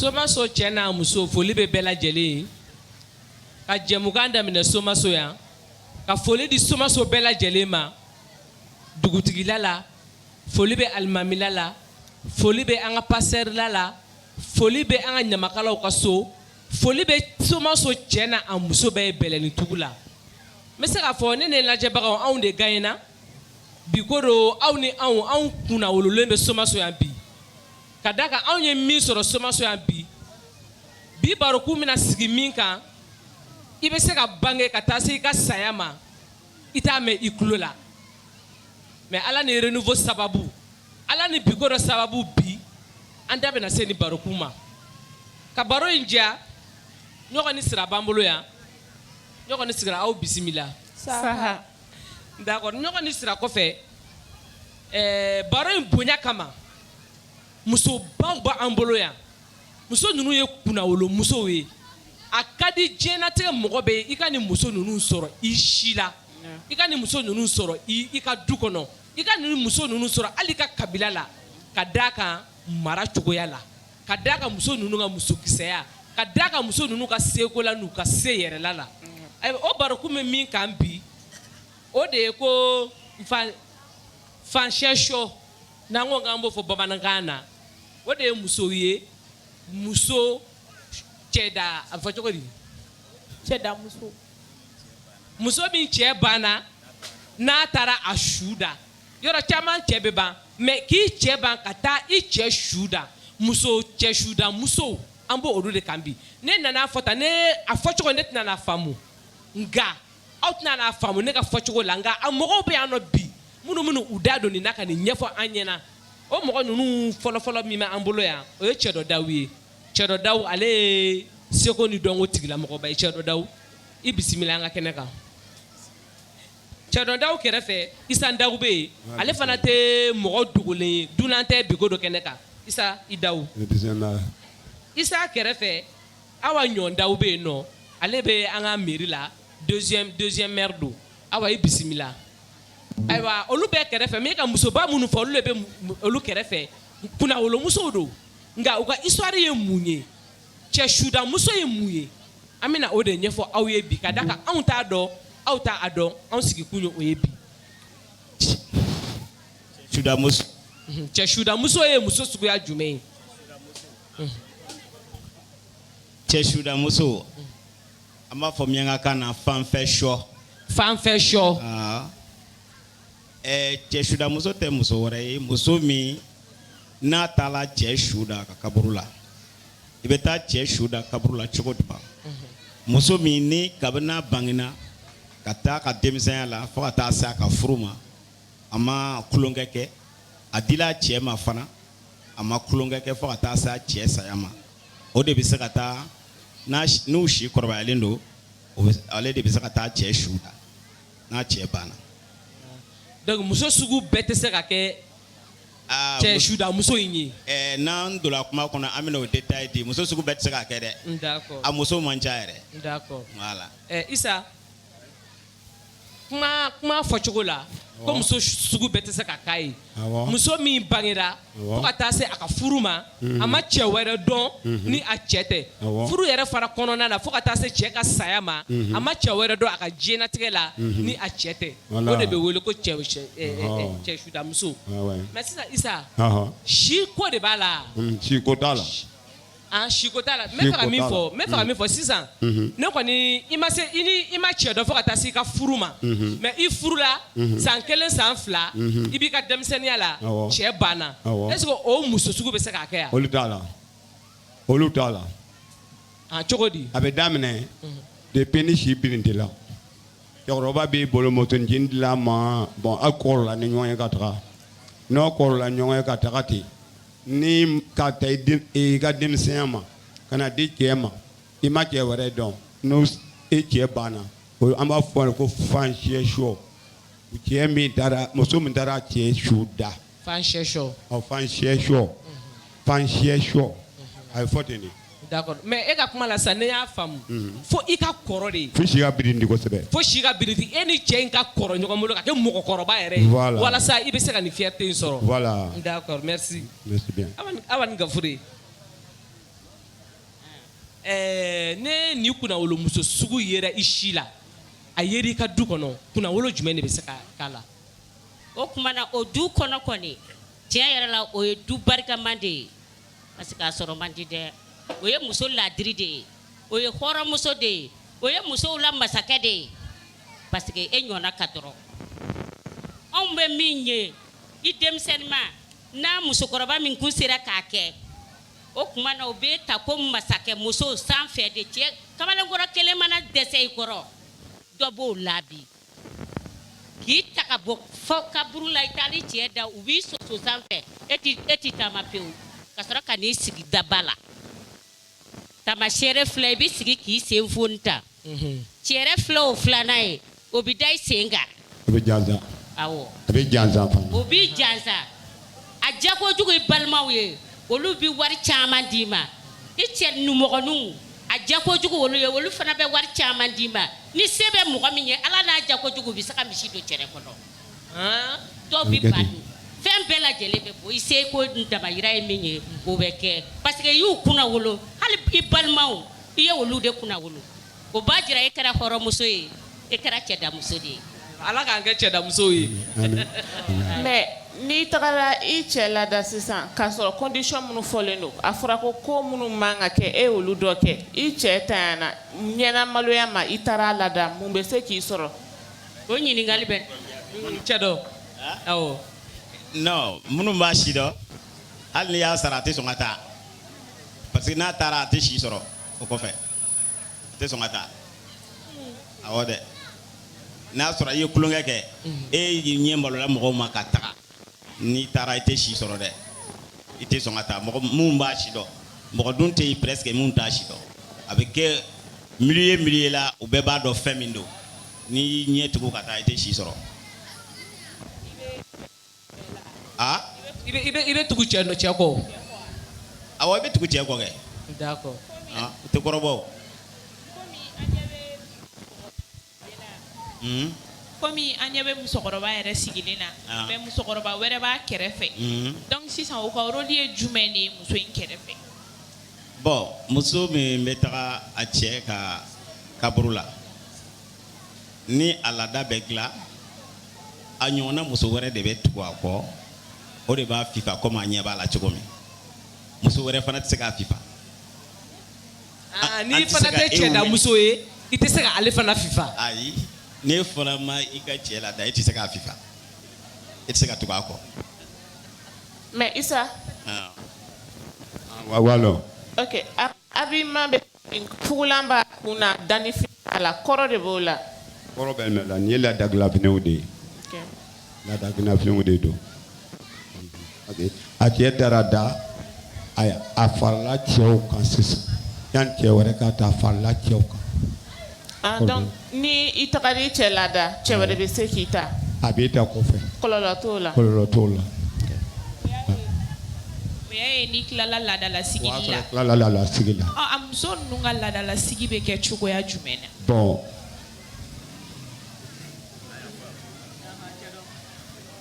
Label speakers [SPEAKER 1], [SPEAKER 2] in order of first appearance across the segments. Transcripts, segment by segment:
[SPEAKER 1] somaso cɛ n'a muso foli bɛ bɛɛ lajɛlen ye ka jɛmukan daminɛ somaso yan ka foli di somaso bɛɛ lajɛlen ma dugutigila la foli bɛ alimamila la foli bɛ an ka pastɛrila la foli bɛ an ka ɲamakalaw ka so foli bɛ somaso cɛ n'a muso bɛɛ ye bɛlɛnitugu la n bɛ se k'a fɔ ne ne lajɛbagaw anw de gaɲɛna bi ko don aw ni anw anw kunnawololen bɛ somaso yan bi ka d'a kan anw ye min sɔrɔ somaso yan bi bi barokun bɛna sigi min kan i bɛ se ka bange ka taa se i ka saya ma i t'a mɛn i tulo la mais ala ni renouveau sababu ala ni biko don sababu bi an da bɛna se nin barokun ma ka baro in diya ɲɔgɔn ni sira b'an bolo yan ɲɔgɔn ni sira aw bisimila saha ɲɔgɔn ni sira kɔfɛ baro in bonya kama muso baw b'an bolo yan muso ninnu ye kunnawolo musow ye a ka di diɲɛnatigɛ mɔgɔ bɛɛ ye i ka nin muso ninnu sɔrɔ i si la i ka nin muso ninnu sɔrɔ i ka du kɔnɔ i ka nin muso ninnu sɔrɔ hali i ka kabila la ka d'a kan mara cogoya la ka d'a kan muso ninnu ka muso kisɛya ka d'a kan muso ninnu ka seko la n'u ka se yɛrɛla la o barokun bɛ min kan bi o de ye ko fancyɛsɔ n'an ko k'an b'o fɔ bamanankan na o de ye musow ye muso cɛda a fɔ cogo di cɛda muso muso min cɛ banna n'a taara a su da yɔrɔ caman cɛ bɛ ban mais k'i cɛ ban ka taa i cɛ su da muso cɛ suda musow an b'olu de kan bi ne nana fɔ tan ne a fɔ cogo ne tɛna faamu nka aw tɛna faamu ne ka fɔ cogo la nka a mɔgɔw bɛ yan nɔ bi minnu minnu u da don nin na ka nin ɲɛfɔ an ɲɛna o mɔgɔ ninnu fɔlɔfɔlɔ min bɛ an bolo yan o ye cɛdɔ daw ye cɛdɔ daw ale ye seko ni dɔnko tigilamɔgɔba ye cɛdɔ daw i bisimila an ka kɛnɛ kan Cɛdɔ daw kɛrɛfɛ isa daw bɛ yen ale fana tɛ mɔgɔ dogolen ye dunan tɛ biko don kɛnɛ kan isa i daw isa kɛrɛfɛ awa ɲɔ daw bɛ yen nɔ ale bɛ an ka mairie la deuxième maire don awa i bisimila ayiwa olu bɛɛ kɛrɛfɛ min ka musoba minnu fɔ olu bɛ olu kɛrɛfɛ kunnawolomusow don nka u ka histoire ye mun ye cɛ sudamuso ye mun ye an bɛna o de ɲɛfɔ aw ye bi ka d'a kan anw t'a dɔn aw t'a dɔn anw sigikun ye o ye bi sudamuso mhm, cɛ sudamuso ye muso suguya jumɛn ye mhm. cɛ sudamuso an b'a fɔ miɲankakan na fanfɛ sɔ fanfɛ sɔ ah. Ɛɛ cɛ sudamuso tɛ muso wɛrɛ ye muso min n'a taala cɛ su da a ka kaburu la i bɛ taa cɛ su da kaburu la cogo jumɛn muso min ni kabini n'a bangina ka taa ka denmisɛnya la fo ka taa se a ka furu ma a ma tulonkɛ kɛ a dila cɛ ma fana a ma tulonkɛ kɛ fo ka taa se a cɛ saya ma o de bɛ se ka taa n'u si kɔrɔbayalen don ale de bɛ se ka taa cɛ su da n'a cɛ banna donc muso sugu bɛɛ tɛ se ka kɛ ah, cɛ suda muso in ye eh, n'an donna kuma kɔnɔ an bɛna o détail di muso sugu bɛɛ tɛ se ka kɛ dɛ d'accord a muso man ca yɛrɛ d'accord voilà eh, Isa ka kuma fɔcogo la ko muso sugu bɛɛ tɛ se ka k'a ye muso min bangera fo ka taa se a ka furu ma mhm. a ma cɛ wɛrɛ dɔn mhm. ni a cɛ tɛ furu yɛrɛ fara kɔnɔna la fo ka taa se cɛ ka saya ma mhm. a ma cɛ wɛrɛ dɔn a ka diɲɛnatigɛ la ni a cɛ tɛ o de bɛ wele ko cɛ sudamuso mais sisan Isa si ko de b'a la si ko t'a la A si ko t'a la min fɔ min fɔ sisan ne kɔni i ma se i ma cɛ dɔn fo ka taa se i ka furu ma mais i furula san kelen san fila i b'i ka denmisɛnninya la cɛ banna est-ce que o muso sugu bɛ se ka kɛ a ye olu t'a la olu t'a la a cogo di a bɛ daminɛ depuis ni si birindila cɛkɔrɔba b'i bolo mɔt dilan ma bɔn aw kɔrɔla ni ɲɔgɔn ye ka taa n'aw kɔrɔla ɲɔgɔn ye ka taga ten Ni ka ta i den i ka denmisɛnya ma ka na di cɛ ma i ma cɛ wɛrɛ dɔn n'o e cɛ banna o an b'a fɔ a ye ko fansiya sɔ cɛ min taara muso min taara cɛ su da fansiya sɔ ɔ fansiya sɔ fansiya sɔ a bɛ fɔ ten de D'accord mais e ka kuma la sisan ne y'a faamu, unhun, fo i ka kɔrɔ de, fo si ka birindi kosɛbɛ, fo si ka birindi e ni cɛ in ka kɔrɔ ɲɔgɔn bolo ka kɛ mɔgɔkɔrɔba yɛrɛ ye, voilà, walasa i bɛ se ka nin fierté in sɔrɔ, voilà, d'accord merci, merci bien, awa awa ni Gafure, ɛɛ ni nin kunnawolomuso sugu yera i si la, a yera i ka du kɔnɔ kunnawolo jumɛn de bɛ se ka k'a la? O tuma na o du kɔnɔ kɔni tiɲɛ yɛrɛ la o ye du barikama de ye. Parce que a sɔrɔ man di dɛ o ye muso laadiri de ye o ye hɔrɔnmuso de ye o ye musow la masakɛ de ye parce que e ɲɔgɔnna ka dɔgɔ anw bɛ min ye i denmisɛnninma n'a musokɔrɔba min tun sera k'a kɛ o tuma na o bɛ ta ko masakɛ musow san fɛ de cɛ kamalenkɔrɔ kelen mana dɛsɛ i kɔrɔ dɔ b'o labi K'i ta ka bɔ fɔ kaburu la i taa ni cɛ da u b'i soso sanfɛ e e tɛ taama pewu ka sɔrɔ ka n'i sigi daba la tama sɛ fila i b'i sigi k'i sen f ta cɛ fila o filanan ye o bɛ da i sen kan a bɛ jansa u b'i jansa a diya kojugu i balimaw ye olu bɛ wari caman d'i ma i cɛ numɔgɔninw a diya kojugu olu ye olu fana bɛ wari caman d'i ma ni se bɛ mɔgɔ min ye a la n'a diya kojugu bɛ se ka misi don cɛ kɔnɔ dɔw bɛ ba don fɛn bɛɛ lajɛlen bɛ bɔ i seko damayira ye min ye o b'o kɛ parce que y'i kunnawolo hali i balimaw i ye olu de kunnawolo o b'a jira e kɛra hɔrɔnmuso ye e kɛra cɛdamuso de ye ala k'an kɛ cɛdamuso ye mais n'i taara i cɛ lada sisan k'a sɔrɔ condition minnu fɔlen don a fɔra ko ko minnu man ka kɛ e y'olu dɔ kɛ i cɛ ta na ɲɛna maloya ma i taara a lada mun bɛ se k'i sɔrɔ o ɲininkali bɛ cɛ dɔ minnu b'a si dɔn hali y'a sara a tɛ sɔn ka taa parce que n'a taara a tɛ si sɔrɔ o kɔfɛ a tɛ sɔn ka taa awɔ dɛ n'a sɔrɔ i ye tulonkɛ kɛ e y'i ɲɛ malola mɔgɔw ma ka taga n'i taara i tɛ si sɔrɔ dɛ i tɛ sɔn ka taa mɔgɔ minnu b'a si dɔn mɔgɔ dun tɛ yen presque minnu t'a si dɔn a bɛ kɛ milieu ye milieu la u bɛɛ b'a dɔn fɛn min don n'i y'i ɲɛ tugu ka taa i tɛ si sɔrɔ. Aa i bɛ i bɛ i bɛ tugu cɛ nɔ cɛ kɔ o awɔ i bɛ tugu cɛ kɔ kɛ d'accord aa u tɛ kɔrɔbɔ o unhun komi an ɲɛ bɛ musokɔrɔba yɛrɛ sigilen na an mais musokɔrɔba wɛrɛ b'a kɛrɛfɛ unhun donc sisan o ka role ye jumɛn de ye muso in kɛrɛfɛ bon muso min bɛ taga a cɛ ka kaburu la ni a laada bɛ dilan a ɲɔgɔnna muso wɛrɛ de bɛ tugu a kɔ o de b'a fifa comme a ɲɛ b'a la cogo min muso wɛrɛ fana tɛ se k'a fifa aa n'i fana tɛ cɛdamuso ye i tɛ se ka ale fana fifa ayi n'e fana ma i ka cɛ lada e tɛ se k'a fifa e tɛ se ka tugu a kɔ mais isa ah. ah, wawalo ok a, a b'i ma bɛ Fugulan b'a kun na dafin a la kɔrɔ de b'o la kɔrɔ bɛ nɔ la nin ye laadadabilenw de ye laadadafiw de don a cɛ taara da a a farala cɛw kan sisan yan cɛ wɛrɛ ka taa farala cɛw kan Ni i taara i cɛ lada cɛ wɛrɛ bɛ se k'i ta a bɛ da kɔfɛ kɔlɔlɔ t'o la kɔlɔlɔ t'o la n'i tilala laadala sigi la sigi la a muso ninnu ka laadala sigi bɛ kɛ cogoya jumɛn na bon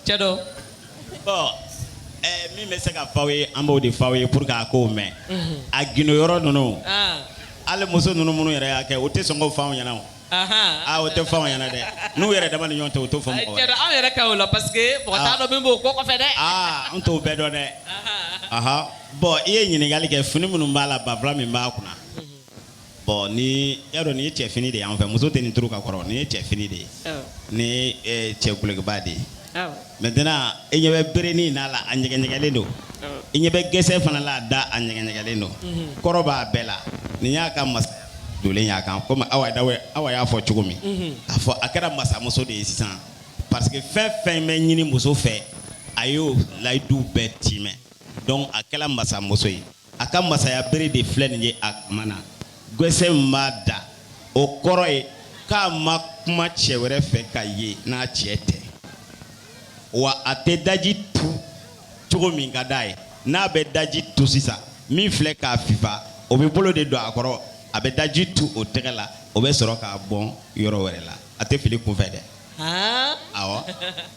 [SPEAKER 1] cɛ dɔ bɔn ɛɛ min bɛ se ka f'aw ye an b'o de f'aw ye pour que a k'o mɛn a gindo yɔrɔ ninnu ah, hali muso ninnu minnu yɛrɛ y'a kɛ o tɛ sɔn k'o f'anw ɲɛna o ahan. aa o tɛ f'anw ɲɛna dɛ n'u yɛrɛ dama ni ɲɔgɔn tɛ o t'o fɔ mɔgɔ cɛ wɛrɛ dɔ aw yɛrɛ ka o la parce que mɔgɔ t'a Ah. dɔn min b'o ko kɔfɛ dɛ aa an t'o bɛɛ dɔn dɛ Ahan. aha bɔn i ye ɲininkali kɛ fini minnu b'a la banfula min b'a kunna bɔn n'i y'a dɔn nin ye cɛ fini de y'an fɛ muso tɛ nin turu ka kɔrɔ nin ye cɛ fini de ye Awɔ. nin ye eh, cɛ dulɔkiba de ye Awɔ. maintenant i ɲɛ bɛ berenin n'a la a ɲɛgɛɲɛgɛlen don Awɔ. i ɲɛ bɛ gɛsɛ fana la a da a ɲɛgɛɲɛgɛlen don kɔrɔ b'a bɛɛ la nin y'a ka masa dolen y'a kan komi awa dawe awa y'a fɔ cogo min k'a fɔ a kɛra masamuso de ye sisan parce que fɛn fɛn bɛ ɲini muso fɛ a y'o layidu bɛɛ tiimɛ donc a kɛra masamuso ye a ka masaya bere de filɛ nin ye o tuma na gɛsɛ min b'a da o kɔrɔ ye k'a ma kuma cɛ wɛrɛ fɛ ka ye n'a cɛ tɛ wa a tɛ daji tu cogo min ka d'a ye n'a bɛ daji tu sisan min filɛ k'a fifa o bɛ bolo de don a kɔrɔ a bɛ daji tu o tɛgɛ la o bɛ sɔrɔ k'a bɔn yɔrɔ wɛrɛ la a tɛ fili kunfɛ dɛ awɔ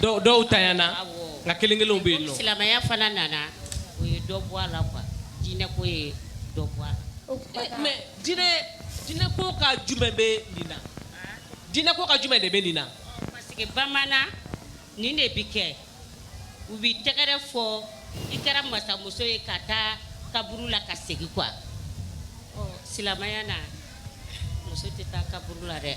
[SPEAKER 1] dɔw dɔw tɛ yan nka kelen kelenw bɛ yen nɔ silamɛya fana nana o ye dɔ bɔ a la quoi diinɛ ko ye dɔ bɔ a la mais diinɛ diinɛ ko ka jumɛn bɛ nin na diinɛ ko ka jumɛn de bɛ nin na parce que bamanan nin de bɛ kɛ u bɛ tɛgɛrɛ fɔ i kɛra masamuso ye ka taa kaburu la ka segin quoi ɔ silamɛya na muso tɛ taa kaburu la dɛ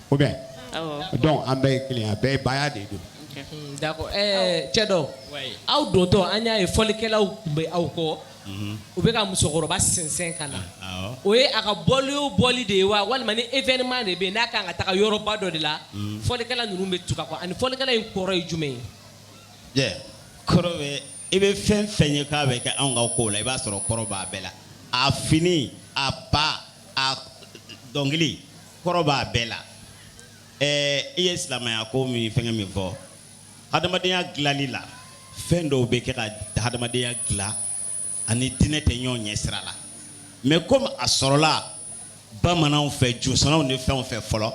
[SPEAKER 1] ko bɛ dɔn an bɛɛ ye kelen a bɛɛ ye ba de don cɛ dɔ aw dontɔ an y'a ye fɔlikɛlaw tun bɛ aw kɔ u bɛ ka musokɔrɔba sɛnsɛn ka na o ye a ka bɔ o bɔli de ye wa walima ni événement de bɛ n'a ka kan ka taa yɔrɔba dɔ de la fɔlikɛla ninnu bɛ tugu a kɔ ani fɔlikɛla in kɔrɔ ye jumɛn ye kɔrɔ i bɛ fɛn fɛn ye k'a bɛ kɛ anw ka ko la i b'a sɔrɔ kɔrɔ b'a bɛɛ la a fini a ba a dɔnkili kɔrɔ b'a bɛɛ la ɛɛ i ye silamɛya ko min fɛngɛ min fɔ hadamadenya dilali la fɛn dɔw bɛ kɛ ka hadamadenya dilan ani diinɛ tɛ ɲɔgɔn ɲɛ sira la mais komi a sɔrɔla bamananw fɛ josɔnnaw ni fɛnw fɛ fɔlɔ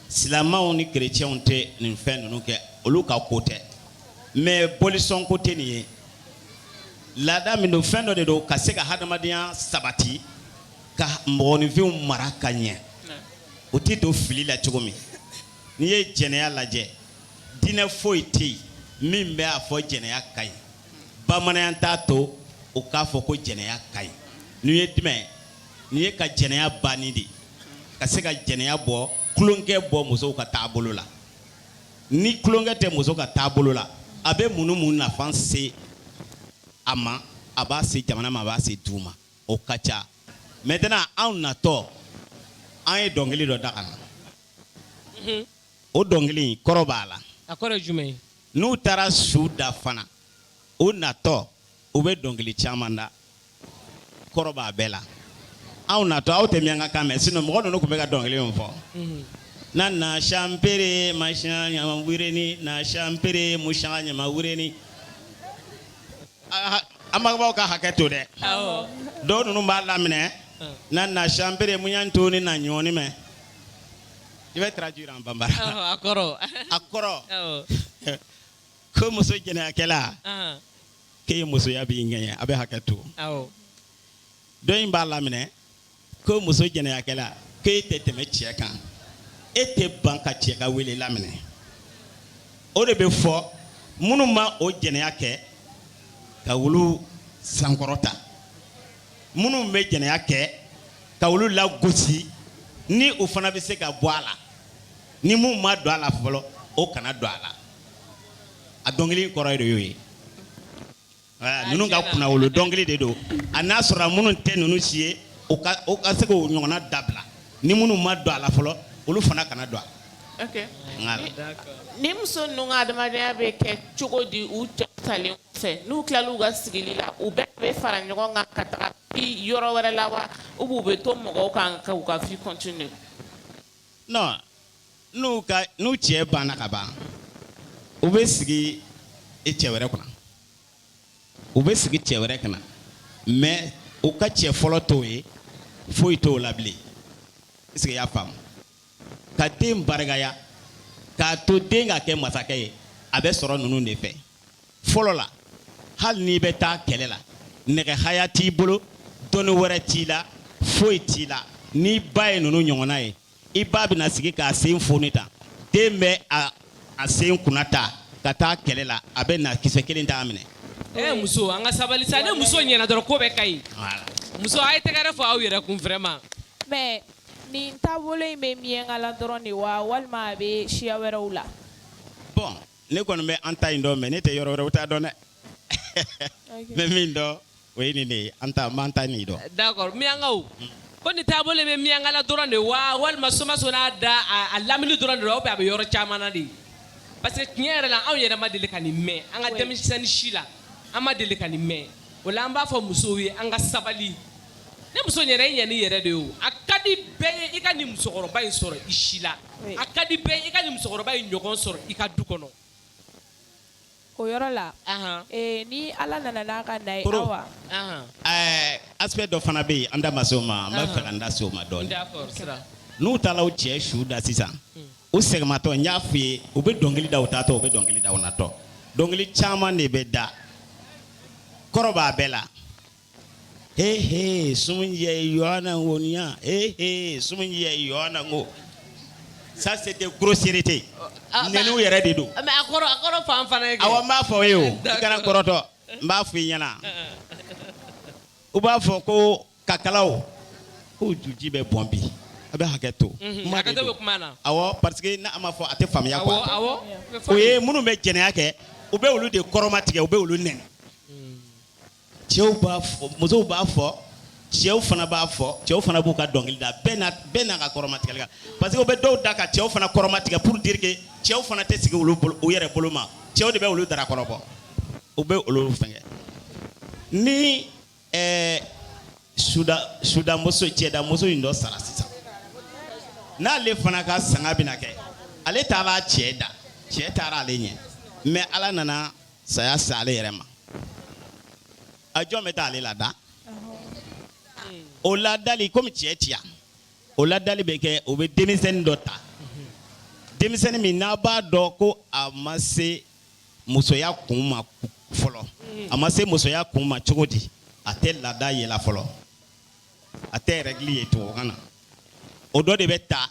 [SPEAKER 1] silamɛw ni kerecɛnw tɛ nin fɛn ninnu kɛ olu ka ko tɛ mais bolisɔn ko tɛ nin ye laada min don fɛn dɔ de don ka se ka hadamadenya sabati ka mɔgɔninfinw mara ka ɲɛ u tɛ don fili la cogo min n'i ye jɛnɛya lajɛ diinɛ foyi tɛ yen min bɛ a fɔ jɛnɛya ka ɲi bamananya t'a to u k'a fɔ ko jɛnɛya ka ɲi n'u ye jumɛn n'i ye ka jɛnɛya banni de ka se ka jɛnɛya bɔ tulonkɛ bɔ musow ka taabolo la ni tulonkɛ tɛ muso ka taabolo la a bɛ mun mun nafa se a ma a b'a se jamana ma a b'a se du ma o ka ca maintenant anw natɔ an ye dɔnkili dɔ da na o dɔnkili kɔrɔ b'a la n'u taara su da fana u natɔ u bɛ dɔnkili caman da kɔrɔ b'a bɛɛ la anw natɔ aw tɛ miyanka kan mɛn sinon mɔgɔ mɔgɔ ninnu tun bɛ ka dɔnkili fɔ na na sipere ma ɲama wele ni na sipere mu ɲama wele ni anbagaw ka hakɛ to dɛ dɔw ninnu b'a laminɛ na na sibere muyan to ni na ɲɔgɔnɔni mais je vais traduire en bambara a kɔrɔ ko muso jɛnɛyakɛla k'e musoya b'i ŋɛɲɛ a bɛ hakɛ to dɔ in b'a laminɛ ko muso jɛnɛyakɛla ko e tɛ tɛmɛ cɛ kan e tɛ ban ka cɛ ka wele laminɛ o de bɛ fɔ minnu ma o jɛnɛya kɛ ka olu sankɔrɔta minnu bɛ jɛnɛya kɛ ka olu lagosi ni u fana bɛ se ka bɔ a la ni min ma don a la fɔlɔ o kana don a la a dɔnkili kɔrɔ ye de y'o ye Ninnu ka kun wolo dɔnkili de don a n'a sɔrɔ minnu tɛ ninnu si ye ka se k'o ɲɔgɔnna dabila ni minnu ma don a la fɔlɔ olu fana kana don a ni muso adamadenya bɛ kɛ cogo di u salen fɛ n'u tila u ka sigi la u bɛɛ bɛ fara ɲɔgɔn kan ka taa yɔrɔ wɛrɛ la wa u b'u bɛ to mɔgɔw kan ka ka n'u ka n'u cɛ banna ka ban u bɛ sigi e cɛ wɛrɛ kunna u bɛ sigi cɛ wɛrɛ kunna mais u ka cɛ fɔlɔ to yen foyi t'o la bilen est-ce que i y'a faamu ka den barikaya k'a to den ka kɛ masakɛ ye a bɛ sɔrɔ ninnu de fɛ fɔlɔ la hali n'i bɛ taa kɛlɛ la nɛgɛhaya t'i bolo dɔnni wɛrɛ t'i la foyi t'i la n'i ba ye ninnu ɲɔgɔnna ye i ba bɛna sigi k'a sen foni tan den bɛ a a sen kunna ta ka taa kɛlɛ la a bɛ na kisɛ kelen t'a minɛ Eh, muso an ka sabali sa ni muso ɲɛna dɔrɔn ko bɛɛ ka ɲi muso a ye tɛgɛrɛ fɔ aw yɛrɛ kun vraiment mais nin taabolo in bɛ miɲanka la dɔrɔn de wa walima a bɛ siya wɛrɛw la bon ne kɔni bɛ an ta in dɔn mais ne tɛ yɔrɔ wɛrɛw ta dɔn dɛ bɛ min dɔn o ye nin de ye an ta an ta nin dɔn d'accord miyankaw ko nin taabolo bɛ miyankala dɔrɔn de wa walima somaso n'a da a lamini dɔrɔn de wa a bɛ yɔrɔ caman na de ye parce que tiɲɛ yɛrɛ la anw yɛrɛ ma deli ka nin mɛn an ka denmisɛnnin si la an ma deli ka nin mɛn o la an b'a fɔ musow ye an ka sabali ne muso yɛrɛ i ɲɛ ni yɛrɛ de ye o a ka di bɛɛ ye i ka nin musokɔrɔba in sɔrɔ i si la a ka di bɛɛ i ka nin musokɔrɔba in ɲɔgɔn sɔrɔ i ka du kɔnɔ O yɔrɔ la ni ala nana ka na wa aspect dɔ fana bɛ yen an da ma se o ma n b'a fɛ an da se o ma dɔɔnin n'u taara u cɛ su da sisan u seginmatɔ n y'a fɔ i ye u bɛ dɔnkili da u taatɔ u bɛ dɔnkili da natɔ dɔnkili caman de bɛ da kɔrɔ b'a bɛɛ la hehe sumunjɛ yɔɔna ŋo niya hehe sumunjɛ yɔɔna ŋo ça c'était grossièreté ah, nɛniw yɛrɛ de don mais a kɔrɔ a kɔrɔ fɔ an fana ye awɔ n b'a fɔ i ye o i kana kɔrɔtɔ n b'a fɔ i ɲɛna u b'a fɔ ko kakalaw ko juji bɛ bɔn bi aw bɛ hakɛ to mhm, kuma de don awɔ parce que n'a ma fɔ a tɛ faamuya quoi o ye minnu bɛ jɛnɛya kɛ u bɛ olu de kɔrɔmatigɛ u bɛ olu nɛni cɛw b'a fɔ musow b'a fɔ cɛw fana b'a fɔ cɛw fana b'u ka dɔnkili da bɛɛ na bɛɛ n'a ka kɔrɔmatigɛli kan parce que u bɛ dɔw da ka cɛw fana kɔrɔmatigɛ pour dire que cɛw fana tɛ sigi olu bolo u yɛrɛ bolo ma cɛw de bɛ olu dara kɔrɔbɔ u bɛ olu fɛngɛ ni ɛɛ suda sudamuso cɛdamuso in dɔ sara sisan n'ale fana ka sanga bɛna kɛ ale taara cɛ da cɛ taara ale ɲɛ mais ala nana saya se ale yɛrɛ ma a jɔn bɛ taa ale lada o ladali komi cɛ tɛ yan o ladali bɛ kɛ o bɛ denmisɛnnin dɔ ta denmisɛnnin min n'aw b'a dɔn ko a ma se musoya kun ma fɔlɔ a ma se musoya kun ma cogo di a tɛ laada ye la fɔlɔ a tɛ règle ye tubabukan na o dɔ de bɛ taa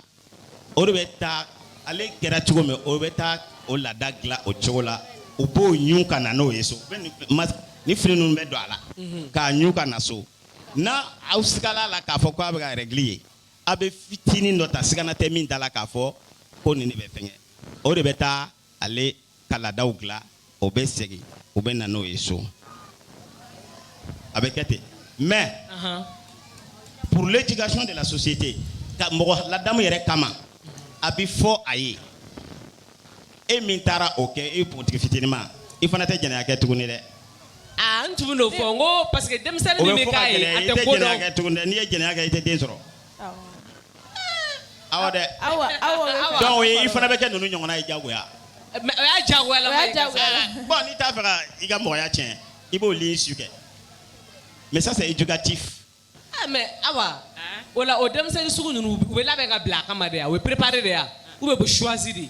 [SPEAKER 1] o de bɛ taa ale kɛra cogo min o bɛ taa o laada dilan o cogo la u b'o ɲun ka na n'o ye so ni fini ninnu bɛ don a la k'a ɲun ka na so n'aw sigala la k'a fɔ k'a bɛ ka règle ye aw bɛ fitinin dɔ ta siga tɛ min da la k'a fɔ ko nin bɛ fɛngɛ o de bɛ taa ale ka laadaw dilan o bɛ segin u bɛ na n'o ye so a bɛ kɛ ten mais pour l'éducation de la société ka mɔgɔ ladamu yɛrɛ kama a bɛ fɔ a ye e min taara o kɛ e pogotigi fitinima i fana tɛ jɛnɛya kɛ tuguni dɛ aa n tun n'o fɔ n ko parce que denmisɛnnin min bɛ k'a ye a tɛ ko dɔn n'i ye jɛnɛya kɛ i tɛ den sɔrɔ aw dɛ dɔw ye i fana bɛ kɛ ninnu ɲɔgɔnna ye jagoya o y'a jagoya la bɔn n'i t'a fɛ ka i ka mɔgɔya tiɲɛ i b'o li su kɛ mais ça c'est éducatif ah mais awa o la o denmisɛnnin sugu ninnu u bɛ labɛn ka bila a kama de wa u bɛ préparer de wa ou bien u bɛ choisir de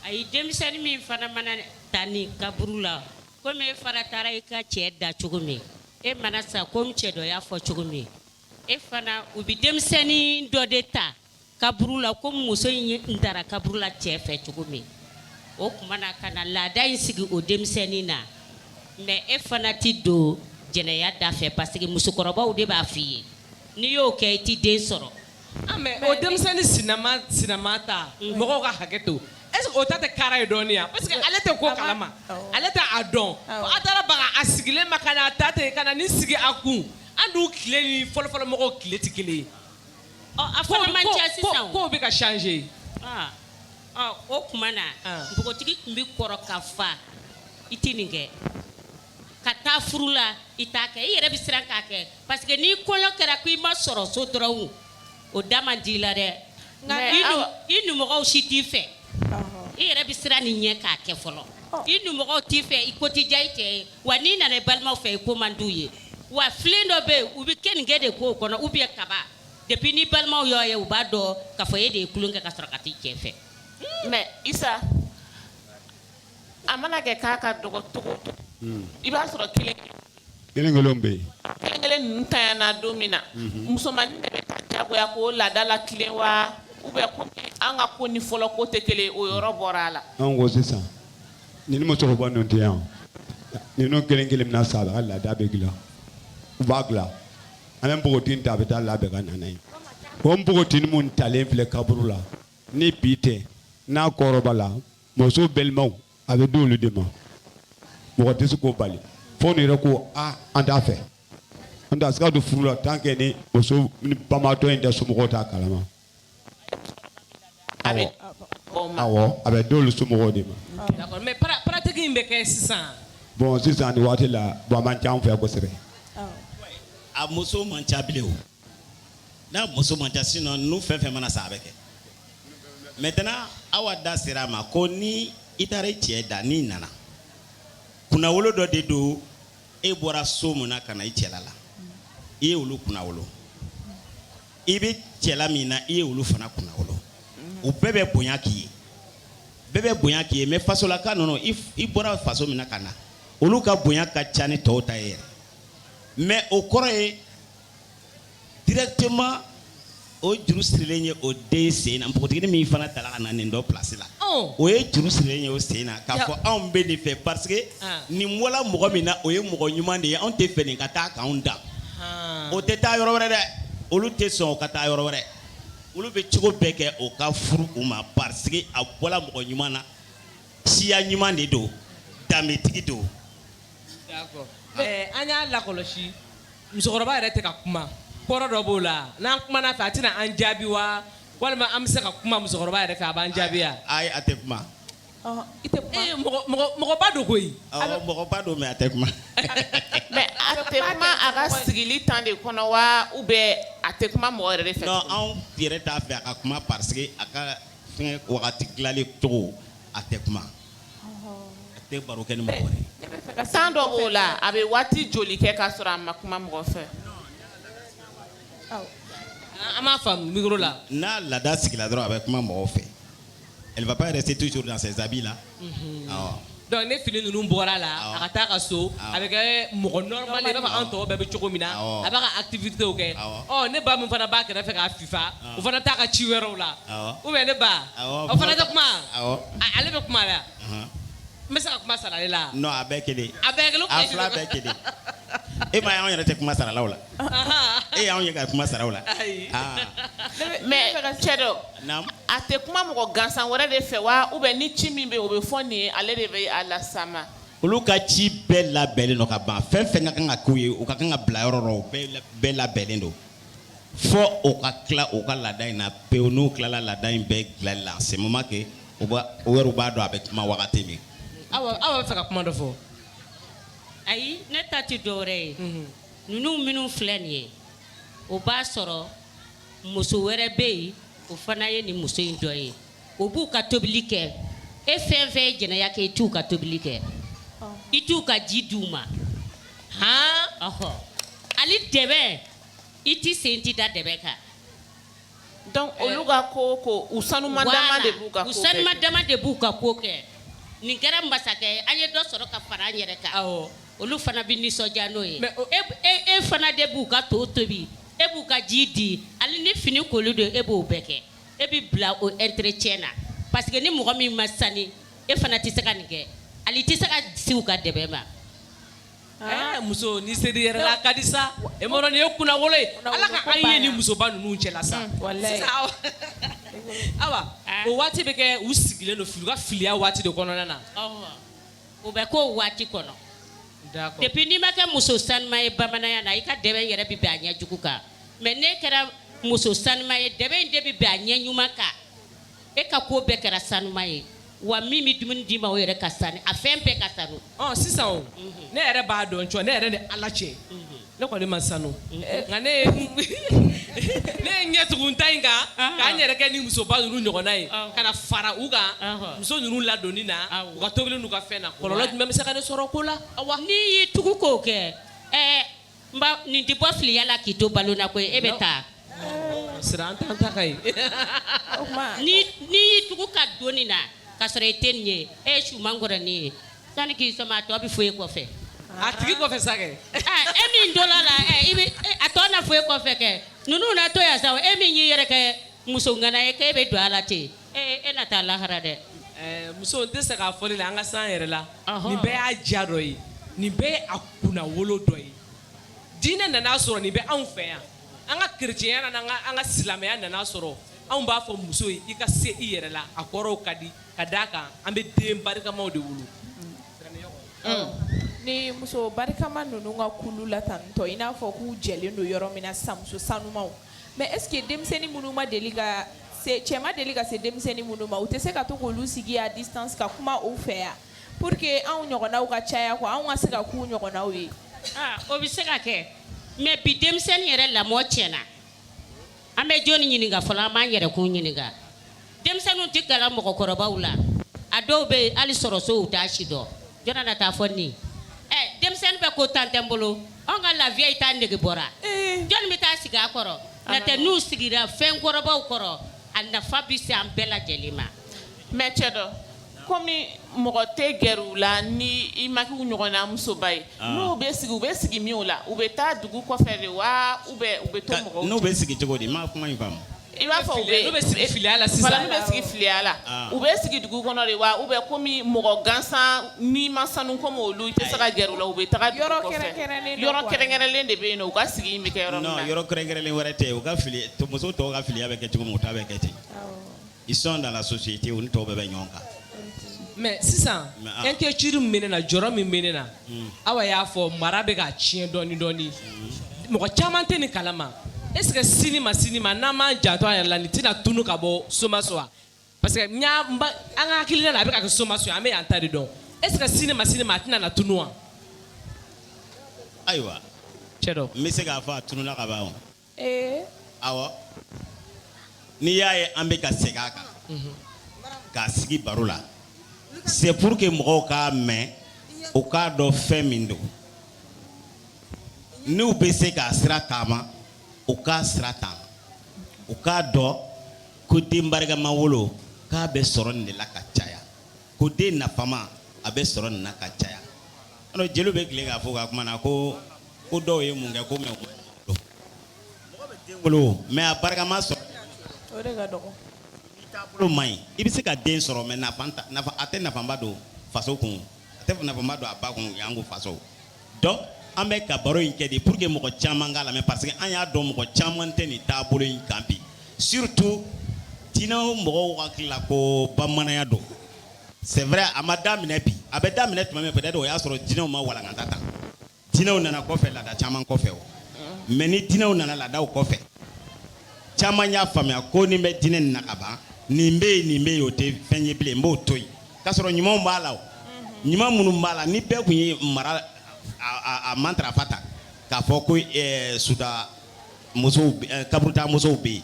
[SPEAKER 1] ayi denmisɛnnin min fana mana ta ni kaburu la komi e fana taara i ka cɛ da cogo min e mana sa komi cɛ dɔ y'a fɔ cogo min E fana u bɛ denmisɛnnin dɔ de ta kaburu la komi muso in taara kaburu la cɛ fɛ cogo min o tuma na ka na laada in sigi o denmisɛnnin na mais e fana tɛ don jɛnɛya da fɛ parce que musokɔrɔbaw de b'a fɔ i ye n'i y'o kɛ i tɛ den sɔrɔ ah, o denmisɛnnin sinama ta mhm. mɔgɔw ka hakɛ to est-ce o ta tɛ kara ye dɔɔnin yan parce que ale tɛ ko kalama ale tɛ a dɔn a taara baga a sigilen ma ka a ta ten ka na nin sigi a kun An dun tile ni fɔlɔfɔlɔ mɔgɔw tile tɛ kelen ye. Ɔ a fana man ca sisan o. Kow bɛ ka changer. Aa ɔ o tuma na. An. Npogotigi tun bɛ kɔrɔ ka fa i tɛ nin kɛ ka taa furu la i t'a kɛ i yɛrɛ bɛ siran k'a kɛ parce que ni kɔɲɔ kɛra ko i ma sɔrɔ so dɔrɔn o da man di i la dɛ nka Mais i nu- awa- i numɔgɔw si t'i fɛ i yɛrɛ bɛ siran nin ɲɛ k'a kɛ fɔlɔ i numɔgɔw t'i fɛ i ko tɛ diya i cɛ ye wa n'i nana i balimaw fɛ i ko man d'u ye wa filen dɔ bɛ yen u bɛ kenige de k'o kɔnɔ ou bien kaba depuis n'i balimaw y'o ye u b'a dɔn k'a fɔ e de ye tulon kɛ ka sɔrɔ ka t'i cɛ fɛ mais isa A mana kɛ k'a ka dɔgɔ cogo o cogo, un, i b'a sɔrɔ kelen kelen kelenw bɛ yen, kelen kelen ninnu ntanyana don min na, unhun, musomannin de bɛ ta diyagoya k'o laada latilen wa ou bien comme an ka ko ni fɔlɔ ko tɛ kelen ye o yɔrɔ bɔra a la, anw ko sisan ni musokɔrɔba ninnu tɛ yan ninnu kelen kelen mana sa a ka laada bɛ dilan u b'a dilan an bɛ npogotiginin ta a bɛ taa labɛn ka na n'a ye o npogotiginin min talen filɛ kaburu la ni bi tɛ n'a kɔrɔbayara muso balimaw a bɛ d'olu de ma mɔgɔ tɛ se k'o bali fo n'u yɛrɛ ko aa an t'a fɛ an tɛ se ka don furu la tan kɛ ni muso banbaatɔ in da somɔgɔw t'a kalama a bɛ d'o somɔgɔw de ma tigi in bɛ kɛ sisan bɔn sisan waati la bɔn a man ca an fɛ kosɛbɛ a muso man ca bilen n'a muso man ca sinon n'u fɛn fɛn mana sa a bɛ kɛ maintenant aw da sera a ma ko ni i taara i cɛ da n'i nana kunnawolo dɔ de don e bɔra so mun na ka na i cɛla la i ye olu kunnawolo i bɛ cɛla min na i ye olu fana kunnawolo u bɛɛ bɛ bonya k'i ye bɛɛ bɛ bonya k'i ye mais fasolaka ninnu i bɔra faso min na ka na olu ka bonya ka ca ni tɔw ta ye yɛrɛ mais o kɔrɔ ye directement o juru sirilen ye o den sen na npogotiginin min fana tala ka na nin dɔ place la oh. o ye juru sirilen ye o sen na k'a fɔ anw bɛ nin fɛ parce que ah. nin bɔla mɔgɔ min na o ye mɔgɔ ɲuman de ye anw t'a fɛ nin ka taa k'anw dan ah. o tɛ taa yɔrɔ wɛrɛ dɛ olu tɛ sɔn o ka taa yɔrɔ wɛrɛ olu bɛ cogo bɛɛ kɛ o ka furu u ma parce que a bɔla mɔgɔ ɲuman na siya ɲuman de don danbetigi don. D'accord. Eh, an y'a lakɔlɔsi Musokɔrɔba yɛrɛ tɛ ka kuma kɔrɔ dɔ b'o la n'an kuman'a fɛ a tɛna an jaabi wa walima an bɛ se ka kuma musokɔrɔba yɛrɛ fɛ a b'an jaabi a tɛ kuma i tɛ mɔgɔba don ko mɔgɔba don mais a tɛ kuma a ka sigilen tan de kɔnɔ wa u bɛ a tɛ kuma mɔgɔ yɛrɛ fɛ anw yɛrɛ t'a fɛ a ka kuma pa a ka wagati dilanlen cogo a tɛ kuma baro kɛ san dɔ b'o la a bɛ waati joli kɛ k'a sɔrɔ a ma kuma mɔgɔ fɛ an b'a fa la n'a laada sigila dɔrɔn a bɛ kuma mɔgɔ fɛ yɛrɛ c'est tout là c'est ça voilà donc ni fini ninnu bɔr'a la a ka taa a ka so a bɛ kɛ mɔgɔ bɛɛ bɛ cogo min na a b'a ka activitéw kɛ ne ba min fana b'a kɛrɛ fɛ k'a o fana taa ka ci wɛrɛw la u bɛ ne ba o fana tɛ kuma ale bɛ kuma la n bɛ se ka kuma sara ale la a bɛɛ kelen a bɛɛ kelen a fila bɛɛ kelen e m'a y'an yɛrɛ tɛ kuma sara olu la e y'an ye ka kuma sara u la mais cɛ dɔ a tɛ kuma mɔgɔ gansan wɛrɛ de fɛ wa u bɛ ni ci min bɛ o bɛ fɔ nin ye ale de bɛ a lase a ma olu ka ci bɛɛ labɛnnen don ka ban fɛn fɛn ka kan ka k'u ye u ka kan ka bila yɔrɔ bɛɛ labɛnnen don fɔ o ka tila u ka laada in na pewu n'u tilala laada in bɛɛ dilanni la c'est moment que u b'a u yɛrɛw b'a dɔn a bɛ kuma wagati min. Awa aw b'a fɛ ka kuma dɔ fɔ. Ayi ne ta tɛ dɔwɛrɛ ye. Unhun. Ninnu minnu filɛ nin ye o b'a sɔrɔ muso wɛrɛ bɛ yen o fana ye nin muso in dɔ ye. o b'u ka tobili kɛ e fɛn fɛn ye jɛnɛya kɛ i t'u ka tobili kɛ i t'u ka ji di u ma han ɔhɔ hali dɛbɛn i t'i sen ti da dɛbɛn kan donc olu ka ko o ko u sanuman dama de b'u ka ko kɛ u sanuman dama de b'u ka ko kɛ nin kɛra masakɛ ye an ye dɔ sɔrɔ ka fara an yɛrɛ kan awɔ olu fana bɛ nisɔndiya n'o ye mais e e fana de b'u ka to tobi e b'u ka ji di hali ni fini koli don e b'o bɛɛ kɛ e bɛ bila o entretien na parce que ni mɔgɔ min ma sani e fana tɛ se ka nin kɛ ali tɛ se ka si u ka dɛbɛ ma muso ni se i yɛrɛ la ka di sa e nin ye kun ala ka ye ni musoba ninnu cɛ la sa aw o waati bɛ kɛ u sigilen don fili ka filiya waati de kɔnɔna na o bɛ k'o waati kɔnɔ depuis n'i ma kɛ muso sanuma ye bamananya na i ka dɛbɛ yɛrɛ bɛ bɛn a ɲɛ jugu kan mais n'e kɛra muso sanuma ye dɛbɛ in de bɛ bɛn a ɲɛ ɲuman kan e ka ko bɛɛ kɛra sanuma ye wa min bɛ dumuni d'i ma o yɛrɛ ka sanu a fɛn bɛɛ ka sanu sisan ne yɛrɛ b'a dɔn ne yɛrɛ ni ala cɛ ne kɔni ma sanu nka ne ye n tugu ta in kan ka n yɛrɛ kɛ ni musoba ninnu ɲɔgɔnna ye ka na fara u kan muso ninnu ladonni na u ka tobili ka fɛn na kɔlɔlɔ jumɛn bɛ se ka ne sɔrɔ o ko la n'i y'i tugu k'o kɛ N ba nin tɛ bɔ filiya la k'i to balo la koyi e bɛ taa siran an t'an ta ka ye o tuma n'i n'i y'i tugu ka don nin na k'a sɔrɔ i tɛ nin ye e ye suman kɔrɔnin ye sani k'i sɔmi a tɔ bɛ fɔ e kɔfɛ a tigi kɔfɛ sa kɛ Aa, e min donna a la ɛ, i bɛ e- a tɔ na fɔ e kɔfɛ kɛ ninnu na to yan sa e min y'i yɛrɛ kɛ muso ŋana ye k'e bɛ don a la ten Ee e na taa lahara dɛ muso n tɛ sɛgɛn a fɔli la an ka se an yɛrɛ la nin bɛɛ y'a diya dɔ ye nin bɛɛ y'a kunnawolo dɔ ye diinɛ nana a sɔrɔ nin bɛ anw fɛ yan an ka kerecɛnya nana an ka silamɛya nana a sɔrɔ anw b'a fɔ muso ye i ka se i yɛrɛ la a kɔrɔw ka di ka d'a kan an bɛ den barikamaw de wolo ni muso barikama ninnu ka kulu la tantɔ i n'a fɔ k'u jɛlen don yɔrɔ min na sa muso sanumaw Mais est-ce que denmisɛnnin minnu ma deli ka cɛ ma deli ka se denmisɛnnin minnu ma u tɛ se ka to k'olu sigi à distance ka kuma u fɛ yan pour que anw ɲɔgɔnnaw ka caya ko anw ka se ka k'u ɲɔgɔnnaw ye o bɛ se ka kɛ mais bi denmisɛnnin yɛrɛ lamɔ ti na an bɛ jɔni ɲininka fɔlɔ an b'an yɛrɛkun ɲininka denmisɛnninw tɛ gɛrɛ mɔgɔkɔrɔbaw la a dɔw bɛ yen hali sɔrɔ sow t'a si dɔn jɔni na taa a fɔ ne ye ɛ denmisɛnnin bɛ ko temps tɛ n bolo anw ka la vieille taa nege bɔra jɔni bɛ taa sigi a kɔrɔ n'o tɛ n'u sigira fɛn kɔrɔbaw kɔrɔ a nafa bɛ se an bɛɛ lajɛlen ma mais cɛ dɔn Kɔmi mɔgɔ tɛ gɛrɛ u la ni i ma k'u ɲɔgɔnna musoba ye n'u bɛ sigi u bɛ sigi min u la u bɛ taa dugu kɔfɛ de wa u bɛ u bɛ n'u bɛ sigi cogo di n ma kuma in faamu i b'a fɔ u bɛ sigi fili la sisan bɛ sigi filiya la u bɛ sigi dugu kɔnɔ de wa u bɛ kɔmi mɔgɔ gansan ni ma sanu kɔmi olu i tɛ se ka gɛrɛ u la u bɛ taa yɔrɔ yɔrɔ kɛrɛnkɛrɛnnen de bɛ yen u ka sigi bɛ kɛ yɔrɔ yɔrɔ kɛrɛnkɛrɛnnen wɛrɛ tɛ u ka fili muso tɔw ka filiya bɛ kɛ cogo u ta bɛ kɛ ten ils sont dans la société où nous tɔw bɛɛ bɛ ɲɔgɔn kan mais sisan inquiétude min bɛ ne na jɔrɔ min bɛ ne na awa y'a fɔ mara bɛ ka tiɲɛ dɔɔni dɔɔni mɔgɔ caman tɛ nin kalama est ce que sini ma sini ma n'an m'an janto an yɛrɛ la nin tɛna tunu ka bɔ somaso wa parce que n y'a n ba an ka hakilina na a bɛ ka kɛ somaso ye an bɛ yan ta de dɔn est ce que sini ma sini ma a tɛna na tunu wa ayiwa cɛ dɔ n bɛ se k'a fɔ a tununa ka ban o Awɔ n'i y'a ye an bɛ ka segin a kan k'a sigi baro la c'est pour que mɔgɔw k'a mɛn u k'a dɔn fɛn min don n'u bɛ se k'a sira taama u k'a sira taama u k'a dɔn ko den barikama wolo k'a bɛ sɔrɔ nin de la ka caya ko den nafama a bɛ sɔrɔ nin na ka caya alors jeliw bɛ tilen k'a fɔ ka kuma na ko ko dɔw ye mun kɛ ko mais mɔgɔ bɛ den wolo mais a barikama sɔrɔ o de ka dɔgɔ n'i taabolo man ɲi i bɛ se ka den sɔrɔ mais nafa a tɛ nafaba don faso kun a tɛ nafaba don a ba kun janko faso donc an bɛ ka baro in kɛ de pour que mɔgɔ caman k'a lamɛn parce que an y'a dɔn mɔgɔ caman tɛ nin taabolo in kan bi surtout mɔgɔw waati la ko bamananya don c'est vrai a ma daminɛ bi a bɛ daminɛ tuma min fɛ don o y'a sɔrɔ dinɛw ma walankata tan dinɛw nana kɔfɛ laada caman kɔfɛ o mais ni dinɛw nana laadaw kɔfɛ caman y'a faamuya ko ni n bɛ dinɛ na kaban nin bɛ yen nin bɛ yen o tɛ fɛn ye bilen n b'o to yen k'a sɔrɔ ɲumanw b'a la o ɲuman minnu b'a la ni bɛɛ tun ye mara a matarafa ta k'a fɔ ko ɛɛ suta musow kaburuta musow bɛ yen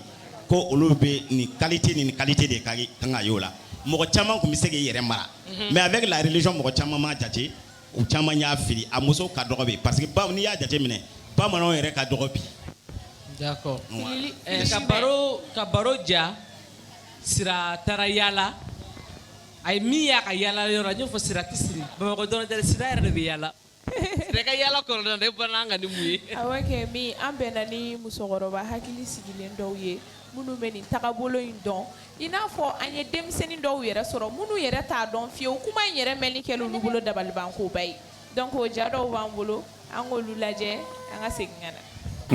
[SPEAKER 1] ko olu bɛ nin qualité ni nin qualité de ka kan ka ye u la mɔgɔ caman tun bɛ se k'i yɛrɛ mara mais avec la religion mɔgɔ caman m'a jate u caman y'a fili a muso ka dɔgɔ bi parce que bawo n'i y'a jateminɛ bamananw yɛrɛ ka dɔgɔ bi d'accord ka baro ja sira taara yala a ye min y'a ka yalayɔrɔ n y'o fɔ sira tɛ siri bamakɔ dɔrɔn dɛ sira yɛrɛ de bɛ yala sira ka yala kɔrɔdɔn e bɔra an kan ni mun ye awɔ kɛ min an bɛnna ni musokɔrɔba hakili sigilen dɔw ye minnu bɛ nin tagabolo in dɔn i n'a fɔ an ye denmisɛnnin dɔw yɛrɛ sɔrɔ minnu yɛrɛ t'a dɔn fiyewu kuma in yɛrɛ mɛnni kɛla olu bolo dabalibankoba ye donc o ja dɔw b'an bolo an k'olu lajɛ an ka segin ka na